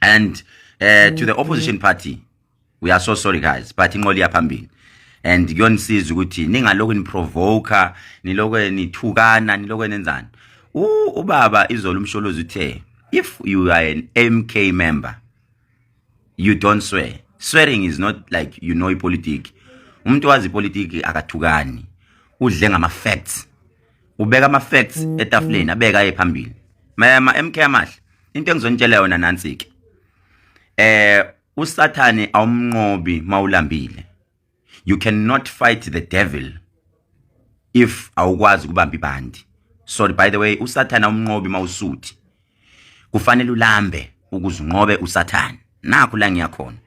and uh, to the opposition party we are so sorry guys but inqola iyaphambili and kuyonisiza ukuthi ningalokhu niprovoker nilokhu nithukana nilokhu nenzani ubaba izolo umsholozi uthe if you are an mk member you don't swear swearing is not like you know ipolitiki umuntu wazi ipolitiki akathukani udle ngama facts ubeka ama facts mm, etafuleni mm. abeka ephambili mama MK amahle into engizonitshela yona nansi ke eh usathane awumnqobi mawulambile you cannot fight the devil if awukwazi kubamba ibandi sorry by the way usathane awumnqobi mawusuthi kufanele ulambe ukuzinqobe usathane nakho la ngiyakhona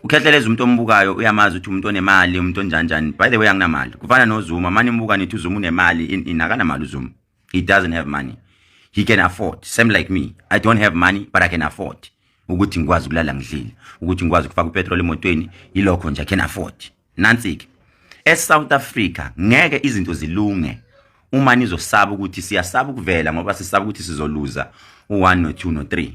ukhehleleza umuntu ombukayo uyamazi ukuthi umuntu onemali umuntu onjanjani by the way anginamali kufana nozuma mani imbuka nithi uzuma unemali in akanamali uzuma he doesn't have money he can afford same like me i don't have money but i can afford ukuthi ngikwazi ukulala ngidlile ukuthi ngikwazi ukufaka upetrol emotweni yilokho nje i can afford nansi-ke esouth africa ngeke izinto zilunge uma nizosaba ukuthi siyasaba ukuvela ngoba sisaba ukuthi sizoluza u-1 no-2 no-3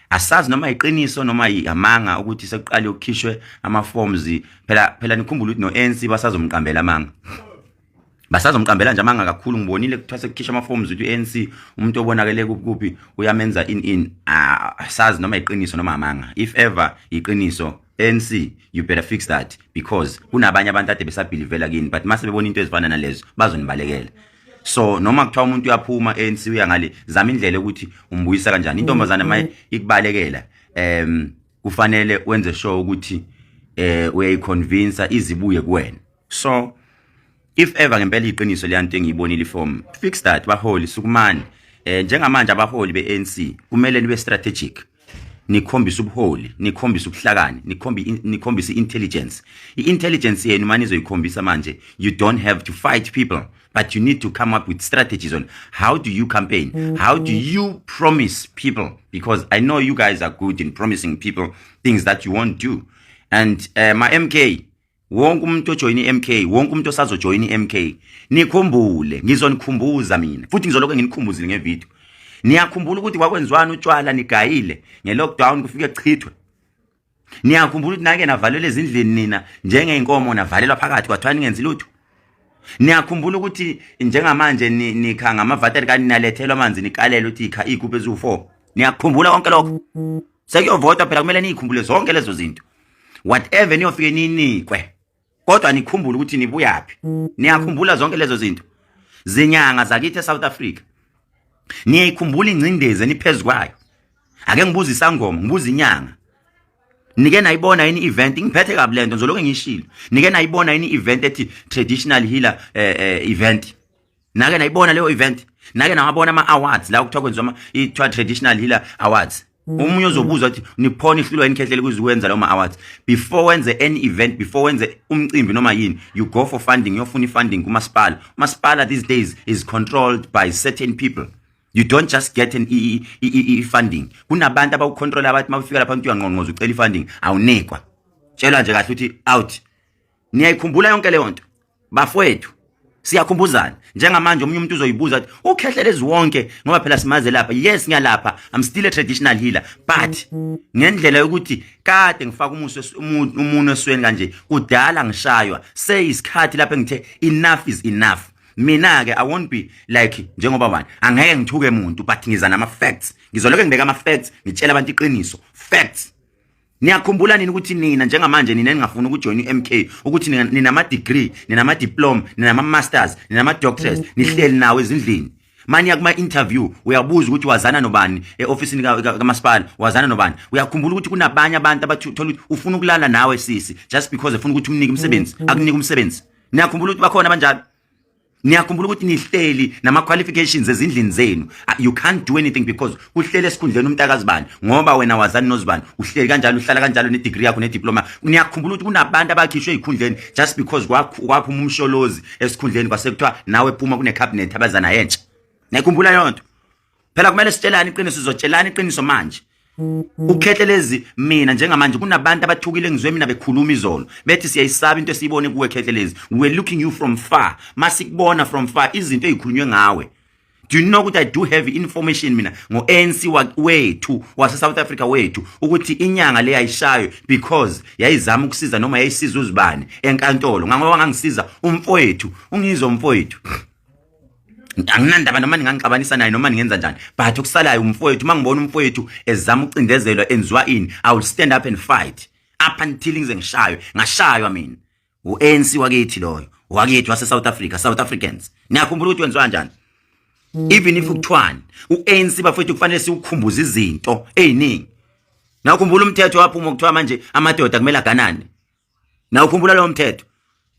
asazi noma yiqiniso noma yamanga ukuthi sekuqale ukukhishwe ama-forms phela phela nikhumbula ukuthi no-anc basazomqambela amanga basazomqambela nje amanga kakhulu ngibonile kuthiwa sekukhishwa ama-forms ukuthi u-anc umuntu obonakele kuphi uyamenza in in ah, sazi noma yiqiniso noma amanga if ever yiqiniso anc you better fix that because kunabanye abantu ade besabhilivela kini but mase bebona into ezifana nalezo bazonibalekela so noma kuthiwa umuntu uyaphuma anc uya ngale zama indlela ukuthi umbuyisa kanjani intombazane maye mm-hmm. ikubalekela um kufanele wenze sure ukuthi um uyayiconvinsa izibuye kuwena so if ever ngempela iqiniso leyanto engiyibonile form fix that baholi sukumani eh njengamanje abaholi beANC kumele nibe strategic nikhombisa ubuholi nikhombisa ubuhlakani nikhombi nikhombisa intelligence iintelligence yenu manje izoyikhombisa manje you don't have to fight people but you need to come up with strategies on how do you campaign mm-hmm. how do you promise people because i know you guys are good in promising people things that you won't do and uh, my mk wonke umuntu ojoyina iMK wonke umuntu osazojoyina iMK nikhumbule ngizonikhumbuza mina futhi ngizoloku nginikhumbuzile ngevideo niyakhumbula ukuthi kwakwenziwani utshwala nigayile ngelockdown kufike kuchithwe niyakhumbula ukuthi nake navalelwa ezindlini nina njengeyinkomo navalelwa phakathi kwathiwa ningenzi lutho niyakhumbula ukuthi njengamanje nikha ngamavateri kaninalethelwa amanzi nikalele ukuthi ikha iyigubhu eziwu-four niyakhumbula konke lokho sekuyovotwa phela kumele niyikhumbule zonke lezo zinto whatever niyofike ninikwe kodwa nikhumbule ukuthi nibuyaphi niyakhumbula zonke lezo zinto zinyanga zakithi eSouth Africa niyayikhumbula ingcindezi eniphezulu kwayo ake ngibuza isangoma ngibuza inyanga nike nayibona yini event ngiphethe kabi lento ngizoloke ngishilo nike nayibona yini event ethi traditional healer eh, eh, event nake nayibona leyo event nake nawabona ama awards la okuthiwa kwenziwa i traditional healer awards Mm. omunye ozobuza ukuthi niphona ihlulwa inkhehlele kuzikwenza lawo ma-awards before wenze any event before wenze umcimbi noma yini you go for funding uyofuna i-funding kumasipala umasipala these days is controlled by certain people you don't just get an i-funding kunabantu abawucontrola abathi uma ufika lapha umuntu uyangqongqoza ucela i-funding awunikwa tshelwa nje kahle ukuthi out niyayikhumbula yonke leyo nto bafowethu siyakhumbuzana njengamanje omunye umuntu uzoyibuza ukuthi ukhehlelezi wonke ngoba phela simaze lapha yes ngiyalapha i'm still a traditional healer but ngendlela yokuthi kade ngifaka umuso umuntu esweni kanje kudala ngishaywa seyisikhathi lapho engithe enough is enough mina ke i won't be like njengoba wani angeke ngithuke umuntu but ngiza nama facts ngizoloke ngibeka ama facts ngitshela abantu iqiniso facts Niyakhumbula nini ukuthi nina njengamanje nina ningafuna ukujoyina iMK ukuthi ninama degree, ninama diploma, ninama masters, ninama doctors, mm, mm. nihleli nawo ezindlini. Manje kuma interview uyabuza ukuthi wazana nobani eofficeini kaMasipala, wazana nobani. Uyakhumbula ukuthi kunabanye abantu abathola ukuthi ufuna ukulala nawe sisi just because efuna ukuthi umnike umsebenzi, mm, akunike umsebenzi. Niyakhumbula ukuthi bakhona abanjalo? niyakhumbula ukuthi nihleli nama qualifications ezindlini zenu ah, you can't do anything because uhlele esikhundleni umntakazibani ngoba wena wazani nozibani uhleli kanjalo uhlala kanjalo ne degree yakho ne diploma niyakhumbula ukuthi kunabantu abakhishwe ikhundleni just because kwaphuma umsholozi esikhundleni kwasekuthiwa nawe phuma kune cabinet abazana yentsha niyakhumbula yonto phela kumele sitshelane iqiniso sizotshelana iqiniso manje ukhethe lezi mina njengamanje kunabantu abathukile ngizwe mina bekhuluma izolo bethi siyayisaba into esiyibone kuwe khethe lezi we looking you from far masikubona from far izinto ezikhulunywe ngawe do you know ukuthi i do have information mina ngo-anc wethu wase-south africa wethu ukuthi inyanga le yayishayo because yayizama ukusiza noma yayisiza uzibani enkantolo ngangoba ngangisiza umfowethu ungizwa umfowethu anginandaba noma ningangixabanisa naye noma ningenza njani but okusalayo umfowethu uma ngibona umfowethu ezama ukucindezelwa enziwa ini i will stand up and fight up until ngize ngishaywe ngashaywa mina u-anc wakithi loyo wakithi wase-south africa south africans niyakhumbula ukuthi wenziwa njani even if kuthiwani u-anc bafowethu kufanele siwukhumbuze izinto ey'ningi nakhumbula umthetho waphuma kuthiwa manje amadoda kumele aganane na ukhumbula lo mthetho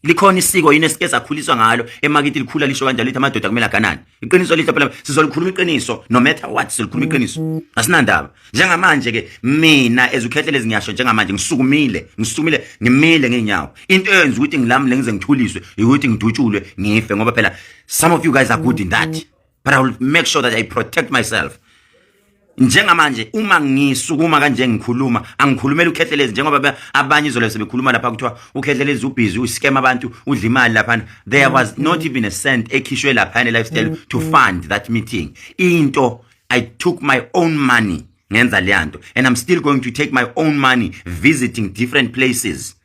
likhona isiko yini esike sakhuliswa ngalo emakithi likhula lisho kanjalo lithi amadoda kumele aganane iqiniso lithi phela sizolikhuluma iqiniso no matter what sizolikhuluma iqiniso asinandaba njengamanje ke mina ezukhehlele ngiyasho njengamanje ngisukumile ngisukumile ngimile ngeenyawo into eyenza ukuthi ngilamule ngize ngithuliswe ukuthi ngidutshulwe ngife ngoba phela some of you guys are good in that but i will make sure that i protect myself njengamanje uma ngisukuma kanje ngikhuluma angikhulumela uKhehlelezi njengoba abanye izolo sebekhuluma lapha kuthiwa uKhehlelezi ubhizi uscam abantu udla imali lapha there was not even a cent ekhishwe lapha ne lifestyle mm, to mm. fund that meeting into i took my own money ngenza leyanto and i'm still going to take my own money visiting different places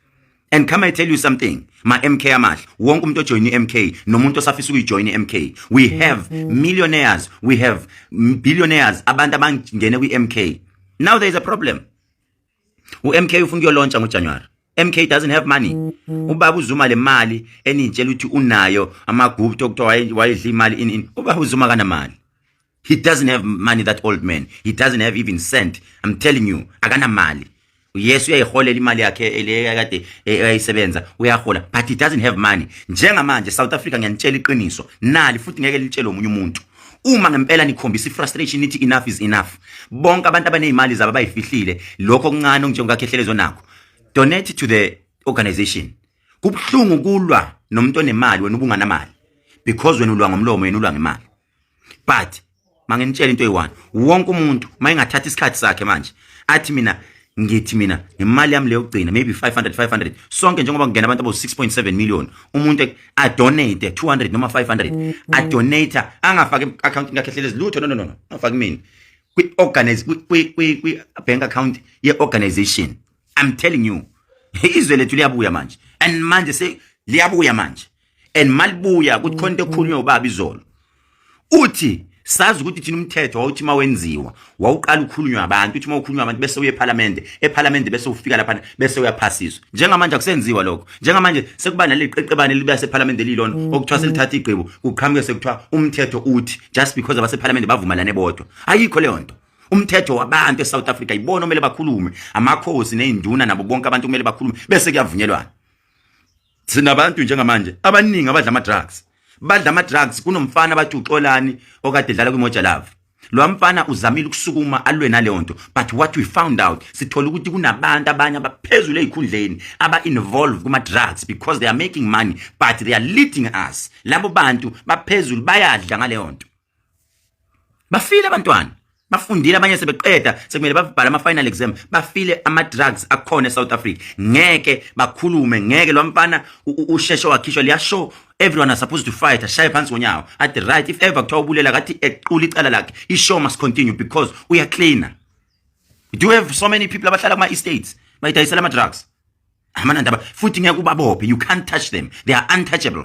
And come I tell you something, ma MK amahle, wonke umuntu ojoin iMK nomuntu osafisa ukuyijoin iMK. We mm-hmm. have millionaires, we have billionaires abantu abangene kwiMK. Now there is a problem. UMK ufuna ukuyolontsha ngoJanuary. MK doesn't have money. Mm-hmm. Ubaba uZuma le mali enitshela ukuthi unayo amagupto okuthiwa wayedla imali in in. Ubaba uZuma kanamali. he doesn't have money that old man he doesn't have even cent i'm telling you akanamali yes uyayiholela imali yakhe le kade eyayisebenza uyahola but he doesn't have money njengamanje south africa ngiyanitshela iqiniso nali futhi ngeke litshele omunye umuntu uma ngempela nikhombisa ifrustration nithi enough is enough bonke abantu abanezimali zabo bayifihlile lokho kuncane onjengokakhehlezo nakho donate to the organization kubuhlungu kulwa nomuntu onemali wena ubunganamali because wena ulwa ngomlomo yena ulwa ngemali but manginitshela into eyi-one wonke umuntu uma engathatha isikhathi sakhe manje athi mina ngithi mina ngemali yami leyo kugcina maybe 500 500 sonke njengoba kungena abantu abo 6.7 million umuntu a donate 200 noma 500 a donate angafaki account yakhe hlelezi lutho no no no angafaki mina kwi organize kwi kwi bank account ye organization i'm telling you izwe lethu liyabuya manje and manje se liyabuya manje and malibuya kuthi khona into ekhulunywa ubaba izolo uthi sazi ukuthi thina umthetho wawuthi mawenziwa wawuqala ukukhulunywa abantu uthi mawukhulunywa abantu bese uye eParliament eParliament bese ufika lapha bese uyaphasiswa njengamanje akusenziwa lokho njengamanje sekuba naliqeqebane libe seParliament elilona mm, okuthiwa mm. selithatha igqibo kuqhamuke sekuthiwa umthetho uthi just because abaseParliament bavumelane bodwa ayikho leyo nto umthetho wabantu eSouth Africa yibona omele bakhulume amakhosi nezinduna nabo bonke abantu kumele bakhulume bese kuyavunyelwana sinabantu njengamanje abaningi abadla ama drugs badla ama drugs kunomfana bathi uxolani okade dlala kwimoja love lo mfana uzamile ukusukuma alwe naleyo nto but what we found out sithola ukuthi kunabantu abanye abaphezulu ezikhundleni aba involve kuma drugs because they are making money but they are leading us labo bantu baphezulu bayadla ngaleyo nto bafile abantwana bafundile abanye sebeqeda sekumele babhale ama final exam bafile ama drugs akhona eSouth Africa ngeke bakhulume ngeke lo mfana usheshe wakhishwa liya show everyone are supposed to fight ashaye phansi ngonyawo at the right if ever kuthiwa ubulela kathi equla icala lakhe i show must continue because uya cleaner do you have so many people abahlala kuma estates bayidayisela ama drugs amanandaba futhi ngeke ubabophe you can't touch them they are untouchable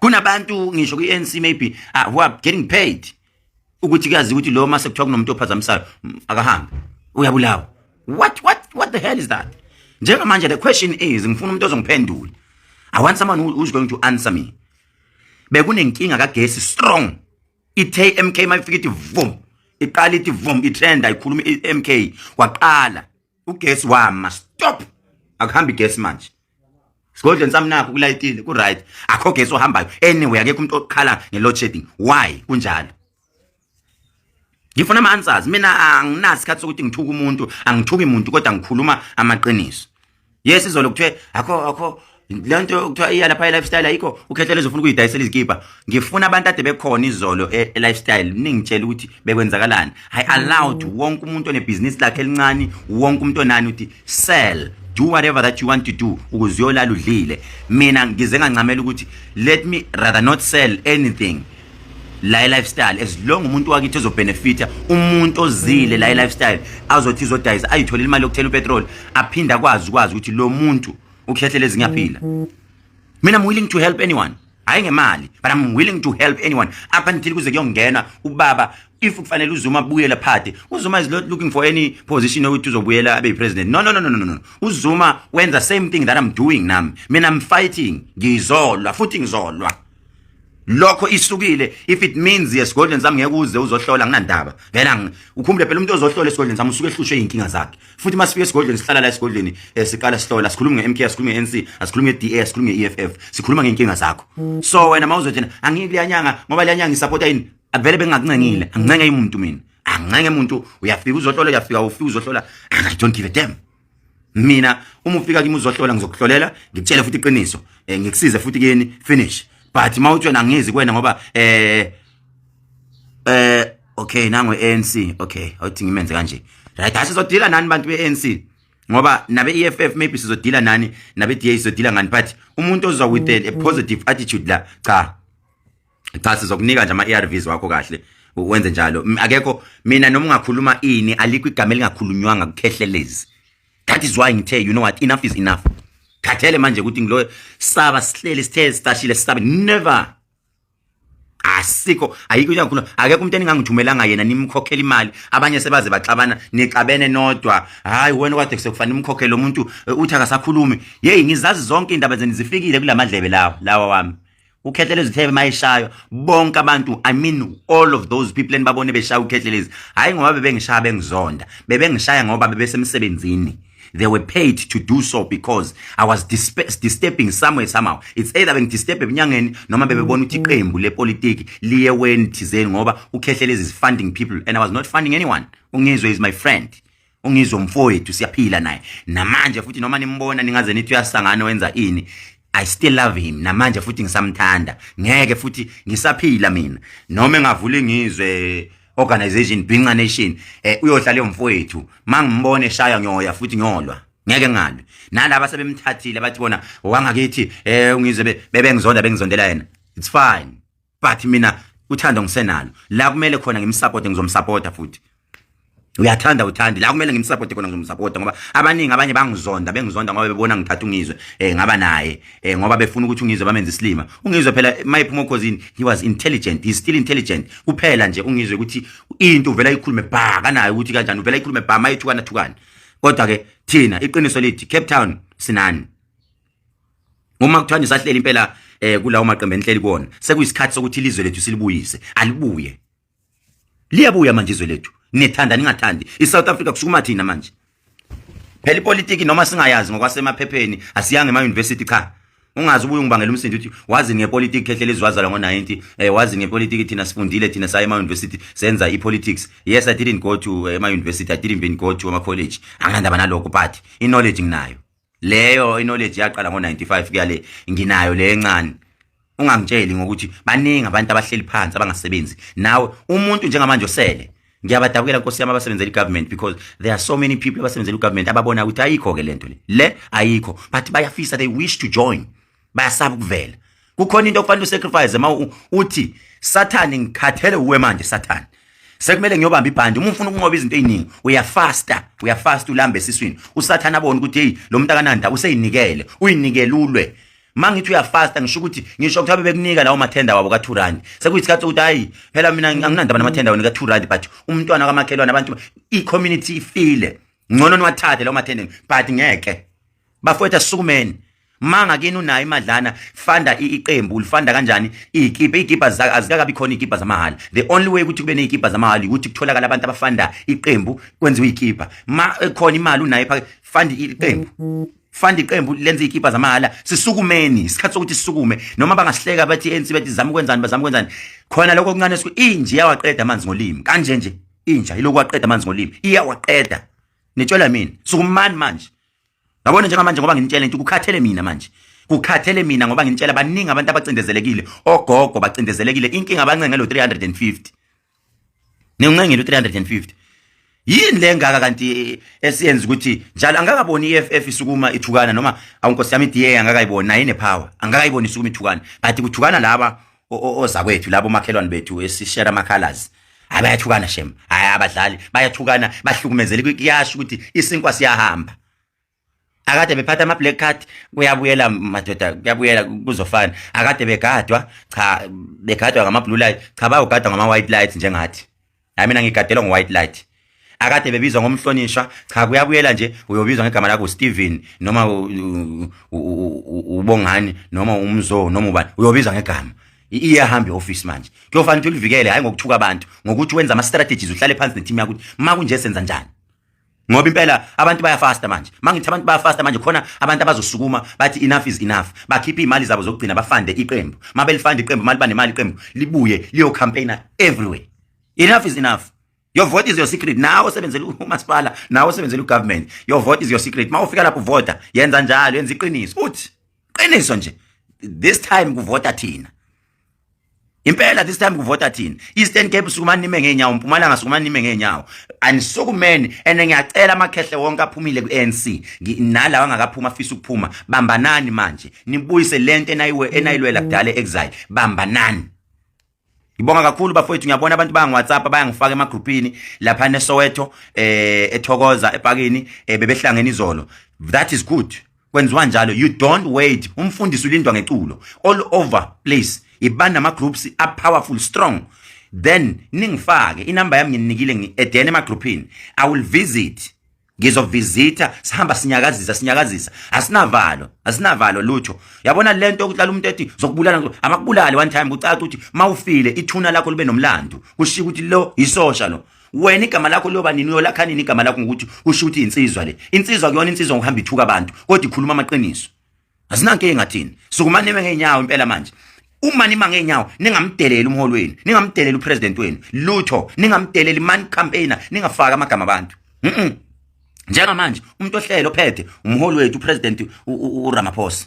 kunabantu ngisho kwi-ANC maybe ah, who are getting paid ukuthi kuyazi ukuthi lo mase kuthiwa kunomuntu ophazamisayo mm, akahambe uyabulawa what what what the hell is that njengamanje the question is ngifuna umuntu ozongiphendula i want someone who is going to answer me bekunenkinga kagesi strong i-mk mayifika ithi vum iqala ithi vum itrenda ikhuluma i-mk waqala ugesi wama stop akuhambi gesi manje sigodleni sami nakho kulayitile ku right akho gesi ohambayo anyway akekho umuntu okhala nge load shedding why kunjalo ngifuna ama answers mina anginasikhathi sokuthi ngithuka umuntu angithuki umuntu kodwa ngikhuluma amaqiniso yes izolo kuthiwe akho akho le nto kuthiwa iya lapha i-lifestyle ayikho ukhetha lezofuna ukuyidayisela izikibha ngifuna abantu ade bekhona izolo e- e-lifestyle ningitshela ukuthi bekwenzakalani i allowed wonke umuntu onebhizinisi lakhe elincane wonke umuntu onani ukuthi sell do whatever that you want to do ukuze uyolala udlile mina ngize ngancamela ukuthi let me rather not sell anything la lifestyle as long umuntu wakithi ezobenefita umuntu ozile la lifestyle azothi izodayisa ayithole imali yokuthela upetrol aphinde akwazi ukwazi ukuthi lo muntu ukuhlehlela ezinye aphila mina i'm willing to help anyone hayi ngemali but i'm willing to help anyone up until kuze kuyongena ubaba if kufanele uzuma abuyele phade uzuma is not looking for any position ukuthi uzobuyela abe president no no no no no no uzuma wenza same thing that i'm doing nami mina i'm fighting ngizolwa futhi ngizolwa lokho isukile if it means yesigodlweni sami ngeke uze uzohlola nginandaba ngena ukhumbule phela umuntu ozohlola esigodlweni sami usuke ehlushwe inkinga zakhe futhi masifika esigodlweni sihlala la esigodlweni eh, siqala sihlola sikhuluma ngeMK sikhuluma ngeNC asikhuluma ngeDA sikhuluma ngeEFF sikhuluma ngenkinga zakho so wena mawuzothina angike liyanyanga ngoba liyanyanga isupporta yini avele bengakuncengile angincenge umuntu mina angincenge umuntu uyafika uzohlola uyafika ufika uzohlola i don't give a damn mina uma ufika kimi uzohlola ngizokuhlolela ngikutshele futhi iqiniso eh, ngikusize futhi kini finish but mawutshona ngizi kwena ngoba eh eh okay nango ANC okay awuthi ngimenze kanje right hashi zodila nani bantu beANC ngoba nabe EFF maybe sizodila nani nabe DA sizodila ngani but umuntu ozwa with a positive attitude la cha cha sizokunika nje ama-arvs wakho kahle wenze njalo akekho mina noma ungakhuluma ini alikho igama elingakhulunywanga kukhehlelezi that is why ngithe you know what enough is enough khathele manje ukuthi ngiloyo saba sihleli sithe sitashile sisabe never asikho ayikho into engakhuluma akekho umuntu eningangithumelanga yena nimkhokhela imali abanye sebaze baxabana nixabene nodwa hayi wena kwade kusekufanele umkhokhele umuntu eh, uthi akasakhulumi yeyi ngizazi zonke indaba zeni zifikile kulamadlebe lawa lawa wami ukhehlela izithebe mayishayo bonke abantu i mean all of those people enibabone beshaya ukhehlela hayi ngoba bebengishaya bengizonda bebengishaya ngoba bebesemsebenzini they were paid to do so because i was disturbing somewhere somehow it's either bengidisturb ebunyangeni noma bebebona ukuthi mm-hmm. iqembu lepolitiki liye weni thizeni ngoba ukhehlela is funding people and i was not funding anyone ungizwe is my friend ungizwe mfowethu siyaphila naye namanje futhi noma nimbona ningaze nithi uyasangana wenza ini I still love him namanje futhi ngisamthanda ngeke futhi ngisaphila mina noma engavula ingizwe organization Binca Nation eh uyohlala leyo mfowethu mangimbone shaya nyoya futhi nyolwa ngeke ngalwe nalabo sebemthathile bathi bona wangakithi eh ungizwe bebengizonda bengizondela yena it's fine but mina uthando ngisenalo la kumele khona ngimsupport ngizomsupporta futhi uyathanda uthandi la kumele ngimsupport khona ngizomsupporta ngoba abaningi abanye bangizonda bengizonda ngoba bebona ngithatha ungizwe eh ngaba naye eh ngoba befuna ukuthi ungizwe bamenze isilima ungizwe phela mayiphuma okhozini he was intelligent he's still intelligent kuphela nje ungizwe ukuthi into uvela ikhulume bha kanaye ukuthi kanjani uvela ikhulume bha mayithukana thukana kodwa ke thina iqiniso lithi Cape Town sinani uma kuthiwa nisahleli impela eh kulawo maqembu enhleli kuona sekuyisikhathi sokuthi ilizwe lethu silibuyise alibuye liyabuya manje izwe lethu nithanda ningathandi iSouth Africa kusukuma thina manje phela ipolitiki noma singayazi ngokwasemaphepheni asiyange ema university cha ungazi ubuye ungibangela umsindo uthi wazi ngepolitiki khehlela izwazala ngo-90 eh wazi ngepolitiki thina sifundile thina saye ema-university senza i-politics yes i didn't go to eh, ema-university i didn't even go to ama-college anginandaba nalokho but i-knowledge nginayo leyo knowledge yaqala ngo95 kuyale nginayo le encane ungangitsheli ngokuthi baningi abantu abahleli phansi abangasebenzi nawe umuntu njengamanje osele ngiyabadabukela nkosi yami abasebenzela igovernment because there are so many people abasebenzela igovernment ababona ukuthi ayikho ke lento le le ayikho but bayafisa they wish to join bayasaba ukuvela kukhona into okufanele usacrifice ma uthi sathane ngikhathele uwe manje sathane sekumele ngiyobamba ibhandi uma ufuna ukunqoba izinto eziningi uyafasta uyafasta ulambe esiswini usathana abone ukuthi hey lo muntu akananda useyinikele uyinikelulwe mangithi uyafasta ngisho ukuthi ngisho ukuthi abebekunika lawo mathenda wabo ka2 rand sekuyisikhathi ukuthi hayi phela mina anginandaba namathenda wena ka2 rand but umntwana kamakhelwane abantu i community ifile ngcono niwathathe lawo mathenda but ngeke bafowethu asukumeni manga kini unayo imadlana fanda iqembu ulifanda kanjani iyikipa iyikipa azikakabi khona iyikipa zamahhala the only way ukuthi kube neyikipa zamahhala ukuthi kutholakala abantu abafanda iqembu kwenziwa iyikipa ma ekhona imali unayo phakathi fanda iqembu fanda iqembu lenze iyikipa zamahhala sisukumeni isikhathi sokuthi sisukume noma bangasihleka bathi ANC bathi zama ukwenzani bazama ukwenzani khona lokho okuncane siku inje yawaqeda amanzi ngolimi kanje nje inja ilokhu waqeda amanzi ngolimi iyawaqeda nitshela mina sukumani manje Yabona njengamanje ngoba nginitshela into kukhathele mina manje. Kukhathele mina ngoba nginitshela baningi abantu abacindezelekile, ogogo bacindezelekile, inkinga abancenge lo 350. Ningincengile u 350. Yini le ngaka kanti eh, esiyenza ukuthi njalo angakaboni iFF isukuma ithukana noma awunkosi yami DA angakayiboni naye nepower angakayiboni isukuma ithukana but kuthukana laba ozakwethu labo makhelwane bethu esishera amakhalazi hayi bayathukana shem hayi abadlali bayathukana bahlukumezele kuyasho ukuthi isinkwa siyahamba akade bephatha ama black card kuyabuyela madoda kuyabuyela kuzofana akade begadwa cha begadwa ngama blue light cha bayogadwa ngama white light njengathi hayi mina ngigadelwa ngo-white light akade bebizwa ngomhlonishwa cha kuyabuyela nje uyobizwa ngegama lakho Steven noma ubongani noma umzo noma ubani uyobizwa ngegama iyahamba ioffice manje kuyofanele ulivikele hayi ngokuthuka abantu ngokuthi wenza ama strategies uhlale phansi ne team yakho makunje senza njani ngoba impela abantu bayafasta manje mangithi abantu bayafasta manje khona abantu abazosukuma bathi enough is enough bakhiphe imali zabo zokugcina bafande iqembu mabelifanda iqembu mali banemali iqembu libuye liyo campaigner everywhere enough is enough your vote is your secret nawe osebenzela umasipala nawe osebenzela ugovernment your vote is your secret mawufika lapho vota yenza njalo yenza iqiniso uthi qiniso nje this time kuvota thina Impela this time kuvota thina. Eastern Cape sukuma nime ngeenyawo, Mpumalanga sukuma nime ngeenyawo. Anisukumeni and ngiyacela amakhehle wonke aphumile ku-ANC. Nalawa angakaphuma afisa ukuphuma. Bambanani manje. Nibuyise lento enayiwe enayilwela kudala exile. Bambanani. Ngibonga kakhulu bafowethu ngiyabona abantu banga WhatsApp bayangifaka ema groupini lapha neSoweto eh ethokoza epakini eh, bebehlangene izolo. That is good. kwenziwa njalo you don't wait umfundisi ulindwa ngeculo all over place yiba nama groups a powerful strong then ningifake inamba yami nginikile ngi-edene emagroupini i will visit ngizovisitha sihamba sinyakazisa sinyakazisa asinavalo asinavalo lutho yabona lento ukuthi umuntu ethi zokubulala amakubulale one time kucaca ukuthi mawufile ithuna lakho libe nomlando kushiya ukuthi lo isosha lo wena igama lakho liyoba nini uyolakha nini igama lakho ngokuthi usho ukuthi insizwa le insizwa kuyona insizwa ngokuhamba ithuka abantu kodwa ikhuluma amaqiniso asinanke engathini sukumane ngeenyawo impela manje uma nima ngeenyawo ningamdeleli umholi wenu ningamdeleli upresident wenu lutho ningamdeleli man campaigner ningafaka amagama abantu mhm njengamanje umuntu ohlelo phethe umholi wethu upresident uRamaphosa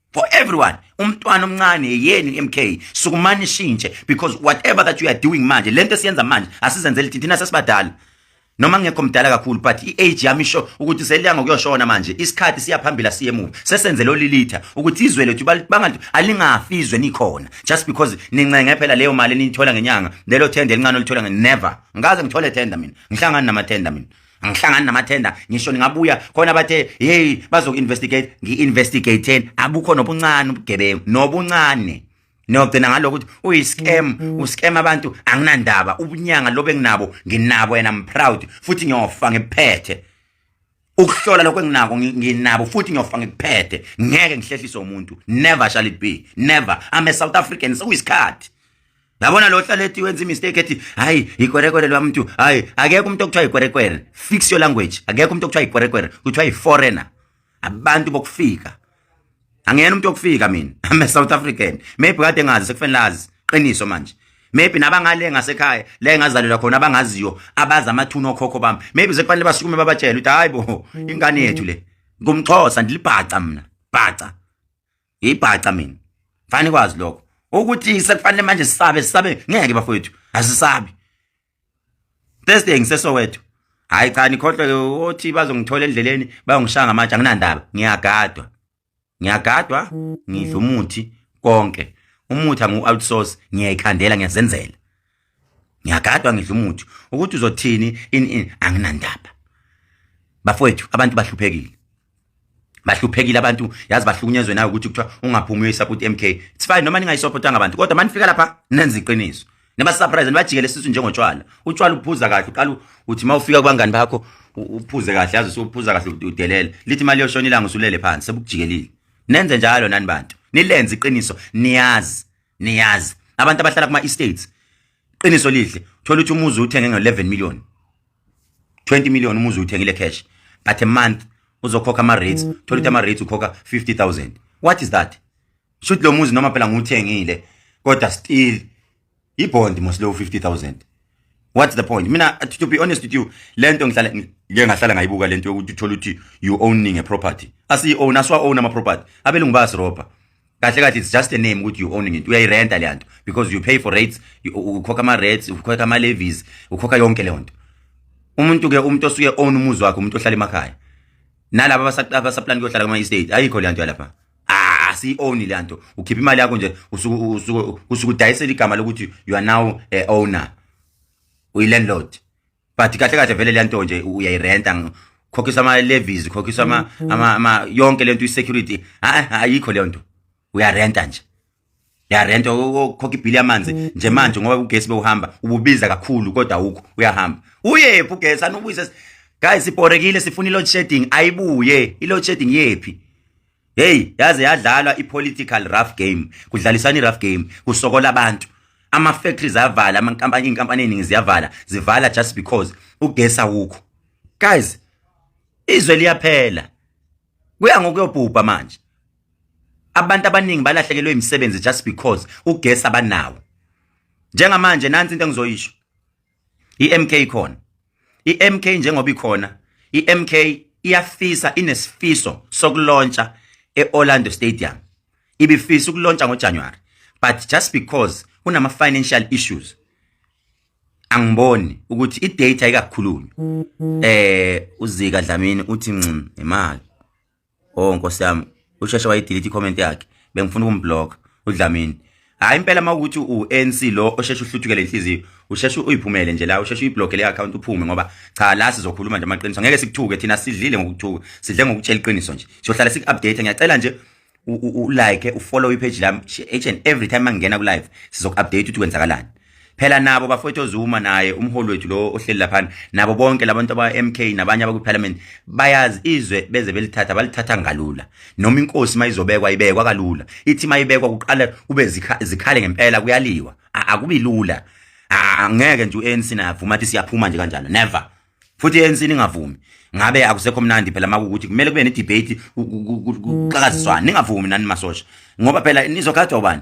for everyone umntwana omncane yenu MK sukumani shintshe because whatever that you are doing manje lento esiyenza manje asizenzele thina sesibadala noma ngekho mdala kakhulu but i-age yami isho ukuthi seliya ngokuyoshona manje isikhathi siyaphambila siye emuva sesenze lo lilitha ukuthi izwe lethu bangathi alingafi izwe nikhona just because nincenge phela leyo mali eniyithola ngenyanga lelo thenda elincane olithola never ngikaze ngithole thenda mina ngihlangani namathenda mina angihlangani namathenda ngisho ningabuya khona bathe hey bazoku-investigate ngi-investigateni abukho nobuncane ubugebengu nobuncane niyogcina ngalokho ukuthi uyi-scam mm-hmm. u-scam abantu anginandaba ubunyanga lobu enginabo nginabo yena mproud futhi ngiyofa ngiphethe ukuhlola lokho enginako nginabo futhi ngiyofa ngikuphethe ngeke ngihlehlise umuntu never shall it be never i'm a south african sekuyisikhathi so yabona lo hlala ethi wenza imistake ethi hayi yikwerekwere lwamuntu hayi akekho umuntu okuthiwa yikwerekwere fix your language akekho umuntu okuthiwa yikwerekwere kuthiwa yi-foreigner abantu bokufika angiyena umuntu okufika mina i'm a south african maybe kade ngazi sekufanele azi qiniso manje maybe nabangale ngasekhaya la engazalelwa khona abangaziyo abazi amathuna okhokho bami maybe sekufanele basukume babatshele ukuthi hayi bo ingane yethu le ngumxhosa ndilibhaca mina bhaca ngiyibhaca mina fani kwazi lokho ukuthi sekufanele manje sisabe sisabe ngeke bafowethu asisabi Thursday ngisesowethu hayi cha nikhohlwe othi bazongithola endleleni bayongishaya ngamatshe anginandaba ngiyagadwa ngiyagadwa ngidla umuthi konke umuthi angu outsource ngiyayikhandela ngiyazenzela ngiyagadwa ngidla umuthi ukuthi uzothini in in anginandaba bafowethu abantu bahluphekile bahluphekile abantu yazi bahlukunyezwe nayo ukuthi kuthiwa ungaphumi uyoyisupport MK it's fine noma ningayisupport ngabantu kodwa manifika lapha nenza iqiniso neba surprise nibajikele sisu njengotshwala utshwala uphuza kahle uqala uthi mawufika kubangani bakho uphuze kahle yazi usuphuza kahle udelela lithi imali yoshona ilanga usulele phansi sebukujikelile nenze njalo nani bantu nilenze iqiniso niyazi niyazi abantu abahlala kuma estates qiniso lihle thola ukuthi umuzi uthenge ngo 11 million 20 million umuzi uthengile cash but a month uzokhokha ama rates mm. thola ukuthi ama rates ukhokha 50000 what is that should lo muzi noma phela nguthengile kodwa still ibond mos lo 50000 what's the point mina to be honest with you lento ngihlala ngike ngahlala ngayibuka lento yokuthi uthola ukuthi you owning a property asi own aswa own ama property abelungu basi robber kahle kahle it's just a name ukuthi you owning it uyayirenta le nto because you pay for rates ukhokha ama-rates ukhokha ama-levies ukhokha yonke leyo nto umuntu-ke umuntu osuke own umuzi wakhe umuntu ohlala emakhaya nalaba abasaplani kuyohlala kuma-estate ayikho le nto yalapha asiyi-owni le nto ukhipha imali yakho nje usuke udayisela igama lokuthi you are now a owner uyi-landlord but kahle kahle vele le nto nje uyayirenta khokhisa ama levies khokhisa ama mm-hmm. ama, ama yonke lento isecurity ayikho le nto uyarenta nje uyarenta ukhokha ibhili yamanzi mm-hmm. nje manje ngoba ugesi bewuhamba ububiza kakhulu kodwa awukho uyahamba uyephi ugesi anubuyise guys siporekile sifuna i load shedding ayibuye i load shedding yephi hey yaze yadlalwa ipolitical rough game kudlalisana irough game kusokola abantu ama factories avala ama company inkampani eningi ziyavala zivala just because ugesa wukho guys izwe liyaphela kuya ngokuyobhubha manje abantu abaningi balahlekelwe imisebenzi just because ugesi abanawo njengamanje nansi into engizoyisho iMK ikhona iMK njengoba ikhona iMK iyafisa inesifiso sokulontsha eOrlando Stadium ibifisa ukulontsha ngoJanuary but just because kunama financial issues angiboni ukuthi idata ikakhulunywa eh uzika Dlamini uthi nxim imali oh nkosi yami usheshe wayidelete i-comment yakhe bengifuna ukumbloka udlamini hayi impela uma ukuthi u-anc lo osheshe uhluthukele inhliziyo usheshe uyiphumele nje la usheshe uyiblokele i-akhawunti uphume ngoba cha la sizokhuluma nje amaqiniso ngeke sikuthuke thina sidlile ngokuthuka sidle ngokutshela iqiniso nje siyohlala siku-update ngiyacela nje ulike ufollow ipage lami each and every time mangingena ku-live sizoku-update ukuthi kwenzakalani phela nabo bafowethu oZuma naye umholi wethu lo ohleli laphana nabo bonke labantu aba-MK nabanye abakwiParliament bayazi izwe beze belithatha balithatha ngalula noma inkosi mayizobekwa ibekwa kalula ithi mayibekwa kuqala kube zikhale ngempela kuyaliwa akubi lula angeke nje u-ANC navuma athi siyaphuma nje kanjalo never futhi ANC ningavumi ngabe akusekho mnandi phela makukuthi kumele kube ne-debate kuxakaziswana ningavumi nani masosha ngoba phela nizogadwa ubani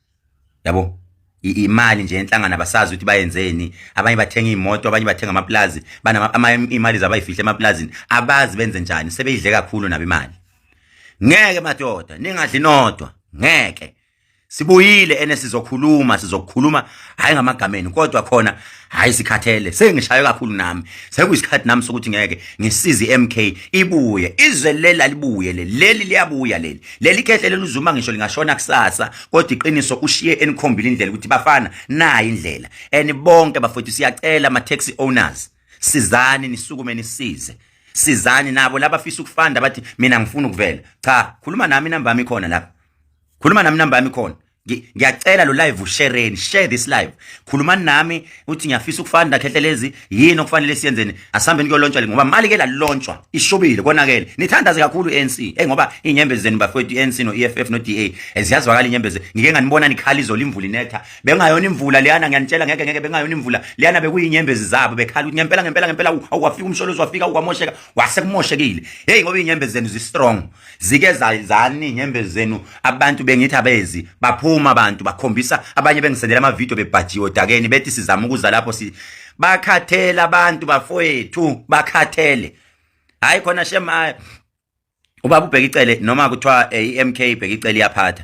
yabo imali nje enhlangana basazi ukuthi bayenzeni abanye bathenga imoto abanye bathenga amaplazi banama imali zabayifihle emaplazini abazi benze njani sebeyidle kakhulu nabo imali ngeke madoda ningadli nodwa ngeke sibuyile ene sizokhuluma sizokhuluma hayi ngamagameni kodwa khona hayi sikhathele sengishaywe kakhulu nami sekuyisikhathi nami sokuthi ngeke ngisize iMK ibuye izwe lela libuye leli leli liyabuya leli leli khehle leli uzuma ngisho lingashona kusasa kodwa iqiniso ushiye enikhombile indlela ukuthi bafana nayi indlela and bonke bafethu siyacela ama taxi owners sizani nisukume nisize sizani nabo labafisa ukufanda bathi mina ngifuna ukuvela cha khuluma nami inamba yami khona lapha khuluma nami inamba yami khona ngiyacela lo live ushereni share this live khulumani nami uthi ngiyafisa ukufana ndakhehle lezi yini okufanele siyenzeni asihambeni kuyolontshwa le ngoba mali ke lalontshwa ishubile konakele nithandaze kakhulu ANC eh ngoba inyembezi zenu bafowethu ANC no EFF no DA eziyazwakala inyembezi ngike nganibona nikhala izolo imvula inetha bengayona imvula leyana ngiyanitshela ngeke ngeke bengayona imvula leyana bekuyinyembezi zabo bekhala ukuthi ngempela ngempela ngempela awafika umsholozi wafika uwamosheka wase kumoshekile hey ngoba inyembezi zenu zi strong zike zayizani nyembezi zenu abantu bengithi abezi baphuma abantu bakhombisa abanye bengisendela ama video bebhajiwe odakeni bethi sizama ukuza lapho si bakhathela abantu bafowethu bakhathele hayi khona shema ubaba ubheka icele noma kuthiwa eh, i-MK ibheka icele iyaphatha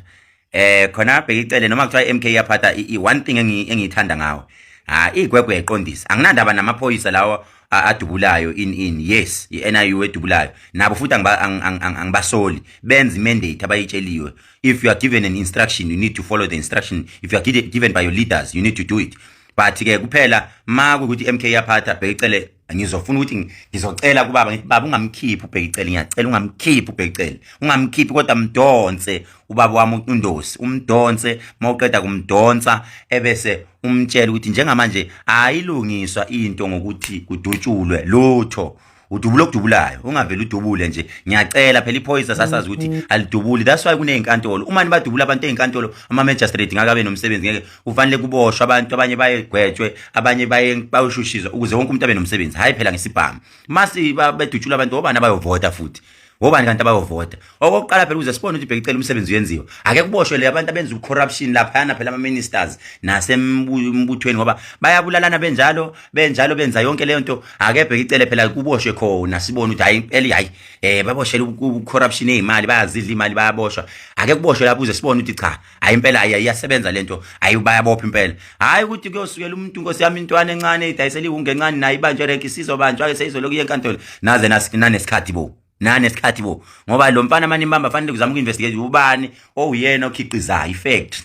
eh khona abheke icele noma kuthiwa iMK iyaphatha i one thing engiyithanda ngawo ha igwegwe eqondisa anginandaba namaphoyisa lawo adubulayo in in yes iNIU edubulayo nabo futhi angibasoli benza imandate abayitsheliwe if you are given an instruction you need to follow the instruction if you are given by your leaders you need to do it but ke kuphela makukuthi iMK yaphatha bheke icele ngizofuna ukuthi ngizocela kubaba ngithi baba ungamkhiphi ubhekicele ngiyacela ungamkhiphi ubhekicele ungamkhiphi kodwa mdonse ubaba wami uNdosi umdonse mawuqeda kumdonsa ebese umtshela ukuthi njengamanje ayilungiswa into ngokuthi kudutshulwe lutho udubula okudubulayo ungaveli udubule nje ngiyacela phela iphoyisa sasazi ukuthi mm-hmm. alidubuli that's why kunezinkantolo uma nibadubula abantu ezinkantolo ama magistrate ngakabe nomsebenzi ngeke kufanele kuboshwe abantu abanye bayegwetshwe abanye bayoshushiswa ukuze wonke umuntu abe nomsebenzi hhayi phela ngesibhamu masi bedutshula abantu obani abayovota futhi ngobani kanti abayovota okokuqala phela ukuze sibone ukuthi bhekicela umsebenzi uyenziwa ake kuboshwe le abantu abenza ucorruption laphayana phela ama-ministers nasembuthweni ngoba bayabulalana benjalo benjalo benza yonke leyo nto ake bhekicele phela kuboshwe khona sibone ukuthi hayi impela hayi um baboshele ucorruption ey'mali bayazidla iy'mali bayaboshwa ake kuboshwe lapho uze sibone ukuthi cha hayi impela hayi iyasebenza lento hayi bayabopha impela hayi ukuthi kuyosukela umuntu inkosi yami intwana encane idayisela iwunge encane naye ibanjwe renki sizobanjwa ke seyizoloku yenkantolo naze nanesikhathi bo nanesikhathi bo ngoba lo mfana mani imbamba fanele kuzama uku-investigate ubani owuyena okhiqizayo i-factory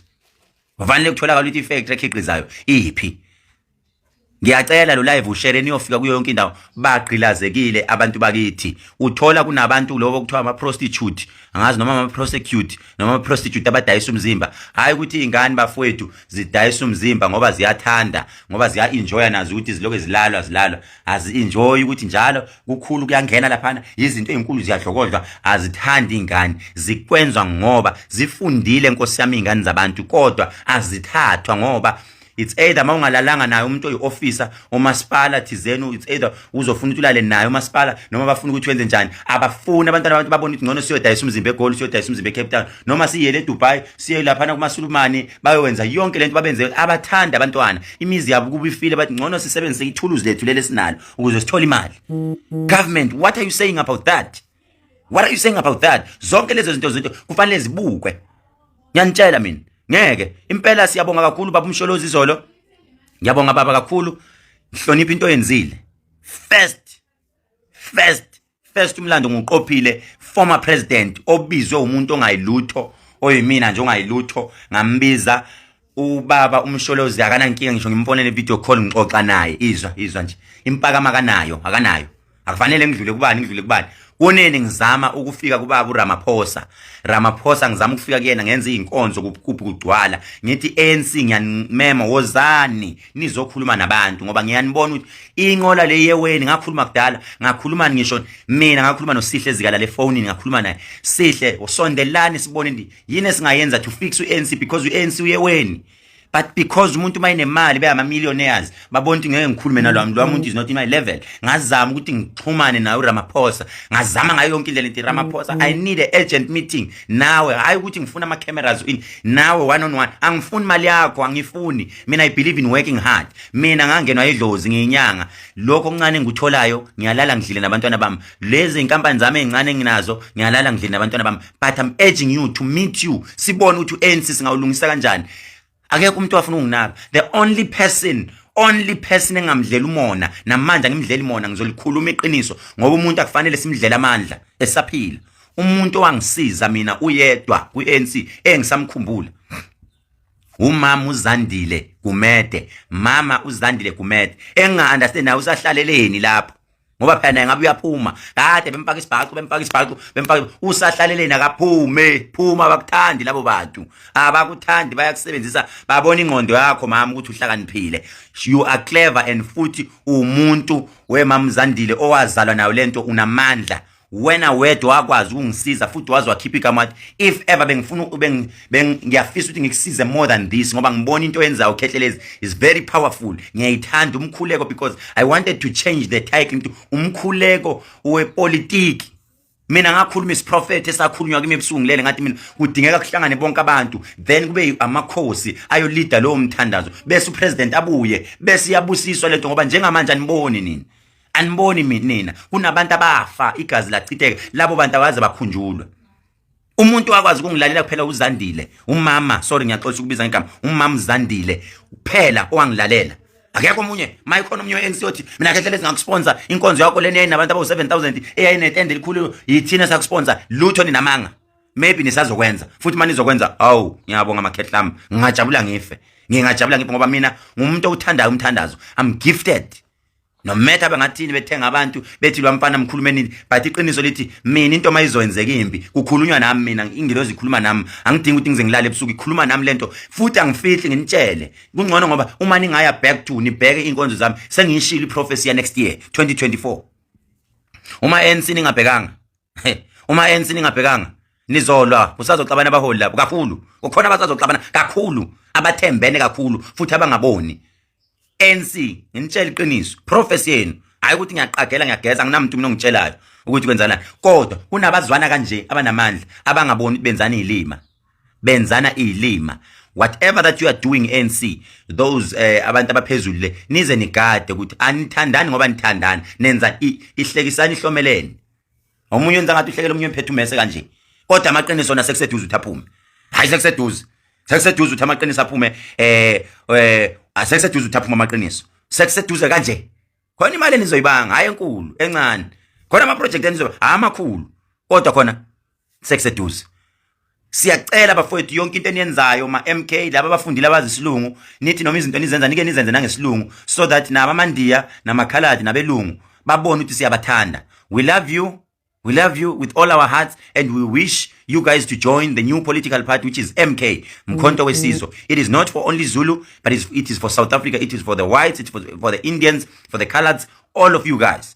kufanele kutholakala ukuthi i-factory ekhiqizayo iphi ngiyacela lo live ushare niyofika kuyo yonke indawo bagqilazekile abantu bakithi uthola kunabantu lobo kuthiwa ama prostitute angazi noma ama prosecute noma ama prostitute abadayisa umzimba hayi ukuthi ingane bafowethu zidayisa umzimba ngoba ziyathanda ngoba ziya enjoy nazo ukuthi ziloke zilalwa zilalwa azi enjoy ukuthi njalo kukhulu kuyangena laphana izinto ezinkulu ziyadlokodlwa azithandi ingane zikwenzwa ngoba zifundile nkosi yami ingane zabantu kodwa azithathwa ngoba it's either uma ungalalanga naye umuntu oyi-officer umasipala thizeni it's either uzofuna ukuthi ulale naye umasipala noma bafuna ukuthi wenze njani abafuni abantwana abantu babona ukuthi ngcono siyodayisa umzimba egoli siyodayisa umzimba ecape town noma siyele edubai siye laphana kumasulumane bayowenza yonke le nto babenze abathanda abantwana imizi yabo kuba ifile bathi ngcono sisebenzise ithuluzi lethu leli esinalo ukuze sithole imali government what are you saying about that what are you saying about that zonke lezo zinto zinto kufanele zibukwe ngiyanitshela mina ngeke impela siyabonga kakhulu baba umsholozi izolo ngiyabonga baba kakhulu ngihlonipha into oyenzile first first first umlando nguqophile former president obizwe umuntu ongayilutho oyimina nje ongayilutho ngambiza ubaba umsholozi akanankinga ngisho ngimfonele video call ngixoxa naye izwa izwa nje impaka makanayo akanayo akufanele ngidlule kubani ngidlule kubani kunene ngizama ukufika kubaba uRamaphosa Ramaphosa ngizama ukufika kuyena ngenza izinkonzo kubukuphi kugcwala ngithi ANC ngiyanimema wozani nizokhuluma nabantu ngoba ngiyanibona ukuthi inqola le yeweni ngakhuluma kudala ngakhuluma ngisho mina ngakhuluma nosihle ezikala le phone ngakhuluma naye sihle usondelani sibone yini esingayenza to fix uANC because uANC uye weni but because umuntu uma enemali beyama millionaires babona ukuthi ngeke ngikhulume nalwami lo muntu is not in my level ngazama ukuthi ngixhumane naye uRamaphosa ngazama ngayo yonke indlela into Ramaphosa i need a urgent meeting nawe hayi ukuthi ngifuna ama cameras in nawe one on one angifuni mali yakho angifuni mina i believe in working hard mina ngangenwa idlozi ngiyinyanga lokho okuncane engikutholayo ngiyalala ngidlile nabantwana bami lezi inkampani zami ezincane enginazo ngiyalala ngidlile nabantwana bami but i'm urging you to meet you sibone ukuthi u-anc singawulungisa kanjani akekho umuntu owafuna ukunginaka the only person only person engamdlela umona namanje angimdleli mona ngizolikhuluma iqiniso ngoba umuntu akufanele simdlela amandla esaphila umuntu owangisiza mina uyedwa kwi-ANC engisamkhumbula umama uzandile gumede mama uzandile gumede enginga-understand naye usahlaleleni lapho ngoba phela naye ngabe uyaphuma kade bempaka isibhacu bempaka isibhacu bempaka usahlaleleni akaphume phuma abakuthandi labo bantu abakuthandi bayakusebenzisa babona ingqondo yakho mama ukuthi uhlakaniphile you are clever and futhi umuntu wemamzandile owazalwa nayo lento unamandla wena wedwa wakwazi ukungisiza futhi wazi wakhipha igama if ever bengifuna ngiyafisa ukuthi ngikusize more than this ngoba ngibona into yenzayo ukhehlelezi is very powerful ngiyayithanda umkhuleko because i wanted to change the title into umkhuleko wepolitiki mina ngakhuluma isiprofethi esakhulunywa kimi ebusuku ngilele ngathi mina kudingeka kuhlangane bonke abantu then kube amakhosi ayolida lowo mthandazo bese upresident abuye bese iyabusiswa lento ngoba njengamanje aniboni nini aniboni mina kunabantu abafa igazi lachitheka labo bantu awaze bakhunjulwa umuntu wakwazi ukungilalela kuphela uzandile umama sorry ngiyaxoxa ukubiza ngegama umama uzandile kuphela owangilalela akekho omunye maye khona omunye we-anc othi mina kehlele singakusponsor inkonzo yakho lena yayinabantu abawu-seven thousand eyayinetende elikhulu yithina sakusponsor lutho ninamanga maybe nisazokwenza futhi uma nizokwenza awu ngiyabonga amakhehla ami ngingajabula ngife ngingajabula ngife ngoba mina ngumuntu owuthandayo umthandazo i'm gifted no matter bangathini bethenga abantu bethi lwamfana mkhulumenini but iqiniso lithi mina into mayizoyenzeka imbi kukhulunywa nami mina ingilozi ikhuluma nami angidingi ukuthi ngize ngilale ebusuku ikhuluma nami lento futhi angifihli nginitshele kungcono ngoba uma ningaya back to nibheke inkonzo zami sengiyishilo iprofesi ya next year 2024 uma ANC ningabhekanga uma ANC ningabhekanga nizolwa kusazoxabana abaholi lapho kakhulu kukhona abasazoxabana kakhulu abathembene kakhulu futhi abangaboni ANC nginitshela iqiniso prophecy yenu hayi ukuthi ngiyaqagela ngiyageza nginamuntu mina ongitshelayo ukuthi kwenzana kodwa kunabazwana kanje abanamandla abangaboni benzana ilima benzana ilima whatever that you are doing ANC those eh, abantu abaphezulu le nize nigade ukuthi anithandani ngoba nithandana nenza ihlekisani ihlomeleni omunye wenza ngathi uhlekela omunye emphethe umese kanje kodwa amaqiniso na sekuseduze uthi aphume hayi sekuseduze sekuseduze uthi amaqiniso aphume eh eh asekuseduze uthi aphume amaqiniso sekuseduze kanje khona imali enizoyibanga hayi enkulu encane khona ama project enizoba amakhulu kodwa khona sekuseduze siyacela bafowethu yonke into eniyenzayo ma MK laba bafundile abazisilungu nithi noma izinto enizenza nike nizenze nangesilungu so that naba mandiya namakhaladi nabelungu babone ukuthi siyabathanda we love you we love you with all our hearts and we wish you guys to join the new political party which is MK Mkhonto wesizwe it is not for only Zulu but it is for South Africa it is for the whites it is for, for the Indians for the coloreds all of you guys